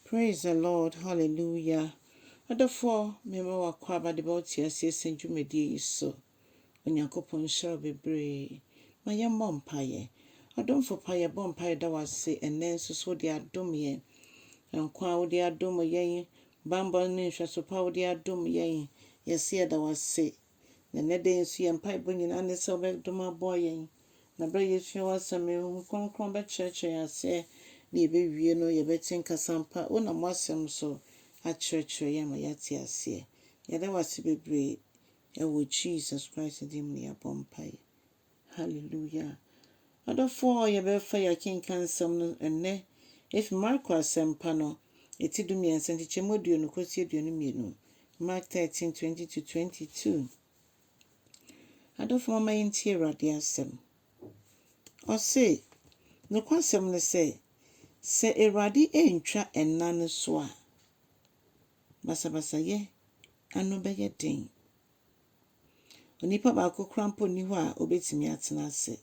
Praise the Lord Hallelujah adɔfoɔ mema wo akwaaba de bɛwo te aseɛ sɛ dwumadie yi so Onyankopɔn nhyira wo bebree ma yɛn mmɔ mpaeɛ Adomfo pa yɛbɔ mpaeɛ da wo ase ɛnɛ nso so wode adom yɛn nkwa a wode adom yɛn banbɔ ne nhwɛso pa a wode adom yɛn yɛse yɛda wo ase Na nnɛ da yi nso yɛn mpaebɔ nyinaa ne sɛ wobɛdom aboa yɛn, na berɛ a yɛsua w'asɛm no, honhom kronkron bɛkyerɛkyerɛ yɛn aseɛ, na yɛbɛwie no yɛbɛte nka sɛ ampa wonam w'asɛm so akyerɛkyerɛ yɛn ama yɛate aseɛ. Yɛda wo ase bebree, ɛwɔ Jesus Christ din mu na yɛabɔ mpaeɛ. Hallelujah! Adɔfoɔ, yɛbɛfa yɛ akenkan nsɛm no ɛnnɛ efi Marko Asɛmpa no, eti dumiɛnsa, nkyekyɛmu aduonu kɔsi aduonu mmienu, Mark thirteen, twenty to twenty two. Adɔfoɔ mama yɛntie Awurade asɛm. Ɔse, nokwasɛm ne sɛ, sɛ Awurade antwa nna no so a, basabasayɛ ano bɛyɛ den. Onipa baako koraa mpo nni hɔ a obetumi atena ase,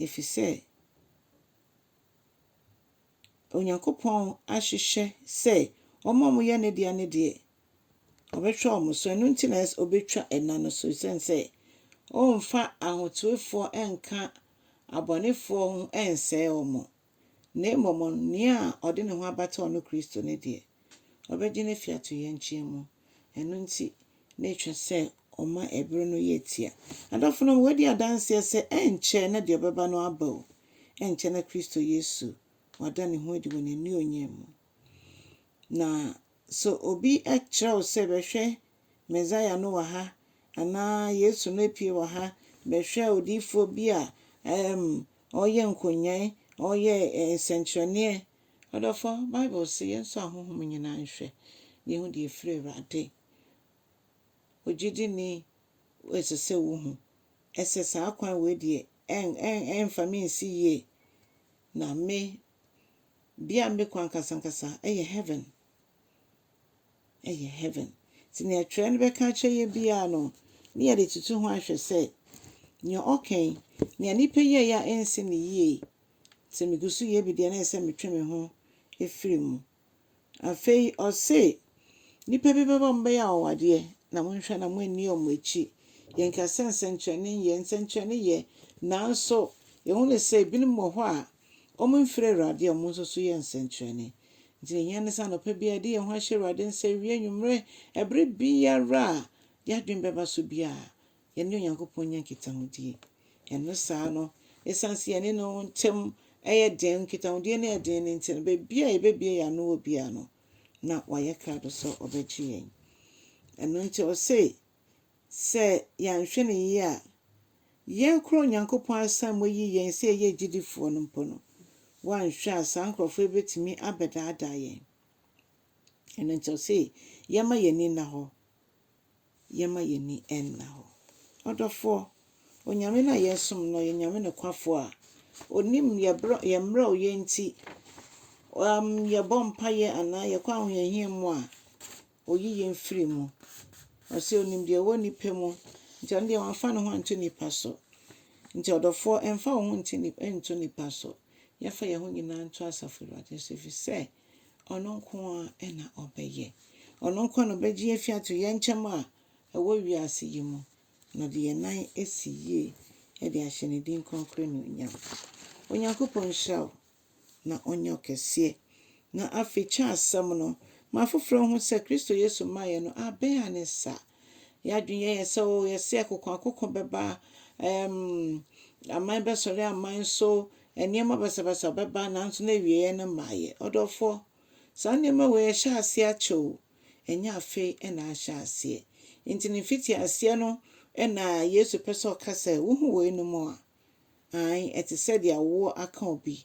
efisɛ Onyankopɔn ahyehyɛ sɛ wɔn a wɔyɛ ne dea no deɛ, ɔbɛhwɛ wɔn so. Ɛno nti na ɛsɛ obetwa nna no so, esiane sɛ ɔremfa ahotefoɔ nka abɔnefoɔ ho nsɛe wɔn. na mmom nea ɔde ne ho abata ɔno Kristo no deɛ, ɔbɛgye no afi atoyerɛnkyɛm mu. Ɛno nti, na ɛtwa sɛ ɔma ɛbere no yɛ tia. Adɔfonom, wɔadi adanseɛ sɛ ɛrenkyɛ na deɛ ɔbɛba no aba o, ɛrenkyɛ na Kristo Yesu wada ne ho adi wɔ n'anuonyam mu. Na sɛ obi kyerɛ wo sɛ, 'Bɛhwɛ, Mesaia no wɔ ha! anaa 'Yesu no apue wɔ ha! Bɛhwɛ odiyifoɔ bi a ɔreyɛ nkonyaayi, ɔreyɛ nsɛnkyerɛnneɛ! Ɔdɔfoɔ, Bible se, Yɛnsɔ ahonhom nyinaa nhwɛ, na yɛhu deɛ ɛfiri Awurade. Ogyidini, ɛsɛ sɛ wohu sɛ saa kwan wei deɛ, ɛremfa me nsi yie, na me Bea a mekɔ ankasankasa yɛ heaven. Yɛ heaven. Ntsi nea Twerɛ no bɛka akyerɛ yɛn biara no, ne yɛdze toto ho ahwɛ sɛ, nea ɔka yi, nea nyimpa yɛe a ennsi no yie, sɛ miguso yɛ bi dze a na ɛsɛ sɛ metwe moho fir mu. Afei ɔse, Nnipa bi bɛba, wɔbɛyɛ anwanwadeɛ, na monhwɛ na moanni wɔn akyi. Yɛnka sɛ nsɛnkyerɛnne nyɛ, nsɛnkyerɛnne yɛ, nanso yɛhunu sɛ ebinom wɔ hɔ a, wɔmfiri Awurade a wɔn nso so yɛ nsɛnkyerɛnne. Nti deɛ ɛhia ne sɛ anɔpa biara yɛde yɛn ho ahyɛ Awurade nsa, awia, anwummerɛ, ɛberɛ biara a yɛadwene bɛba so biara, yɛne Onyankopɔn nya nkitahodie. Ɛno saa no, ɛsiane sɛ yɛne no ntam yɛ den, nkitahodie no yɛ den no nti no, baabi a yɛbɛbie yɛn ano wɔ biara no, na wayɛ krado sɛ ɔbɛgye yɛn. Ɛno nti ɔse, sɛ yɛanhwɛ no yie a, yɛn kora Onyankopɔn asan mu ayi yɛn sɛ yɛyɛ agyidifoɔ no mpo no, wanhwɛ a saa nkurɔfoɔ yi bɛtumi abɛdaadaa yɛn. Ɛno nti ɔse, yɛmma yɛn ani nna hɔ yɛmma yɛn ani nna hɔ. Ɔdɔfoɔ, Onyame no a yɛresom no ɔyɛ Nyame nokwafoɔ a Onim yɛn brɛ, yɛn mmerɛwyɛ nti, um, yɛbɔ mpaeɛ anaa yɛkɔ ahohiahia mu a, Oyi yɛn firi mu. Ɔse Onim deɛ ɛwɔ nnipa mu, nti ɔno deɛ wamfa ne ho anto nnipa so. Nti ɔdɔfoɔ, mfa wo ho nti, nto nnipa so. Yɛmfa yɛn ho nyinaa nto Asafo Awurade so, ɛfiri sɛ, Ɔno nko ara na ɔbɛyɛ. Ɔno nko ara na ɔbɛgye yɛn afi atoyerɛnkyɛm a ɛwɔ wiase yi mu, na ɔde yɛn nan asi yie de ahyɛ ne din kronkron anuonyam. Onyankopɔn nhyira wo, na ɔnyɛ wo kɛseɛ. Na afei kyɛ asɛm no ma afoforɔ nhu sɛ Kristo Yesu mmaeɛ no abɛn a ne nsa a Yɛn adwene yɛ yɛn sɛ, oh, yɛse akokoakoko bɛba, ɛɛm, aman bɛsɔre aman so, nneɛma basabasa bɛba, nanso na awieeɛ no mmaeɛ. Ɔdɔfoɔ, saa nneɛma wei ahyɛ aseɛ akyɛ o, ɛnyɛ afei na ahyɛ aseɛ. Enti ne mfitiaseɛ no na Yesu pɛ sɛ ɔka sɛ, Wohu weinom a? Aane, ɛte sɛ deɛ awoɔ aka obi,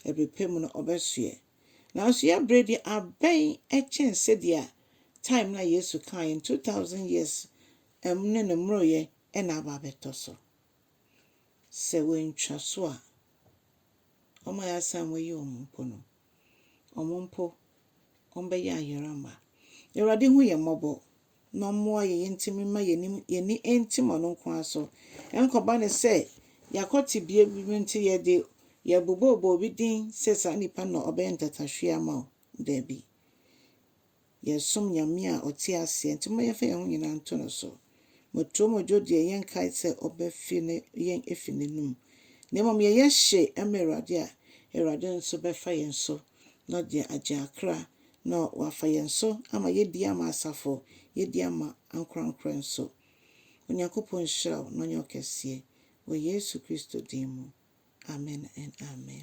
ɛberɛ pa mu no ɔbɛsoɛ. Nanso yɛn bere de abɛn kyɛn sɛdeɛ time no a Yesu kaa yɛn two thousand years ɛm ne ne mmoroyɛ na aba abɛtɔ so. Sɛ wɔantwa so a, wɔn a yɛasan wɔayi wɔn mpo no, wɔn mpo wɔbɛyɛ ayera mma. Awurade hu yɛn mmɔbɔ. na ɔmmoa yɛn ntumi mma yɛn anim yɛn ani ntim ɔno nko ara so. Ɛnkɔba no sɛ yɛakɔ tebea bi mu nti yɛde yɛn bo bɛbɔ obi din sɛ saa nipa no na ɔbɛyɛ ntatahweɛ ama wo. Dabi. Yɛresom Nyame a ɔte aseɛ nti momma yɛmfa yɛn ho nyinaa nto no so. Motuo modwo deɛ yɛnkae sɛ ɔbɛfe ne yɛn afi n'anom, na mmom yɛyɛ hye ma Awurade a, Awurade nso bɛfa yɛn so na ɔde agye akra Na Wafa yɛn so ama yɛadi ama asafo, yɛadi ama ankorankorɛ nso. Onyankopɔn nhyira wo na ɔnyɛ wo kɛseɛ, wɔ Yesu Kristo din mu, amen and amen.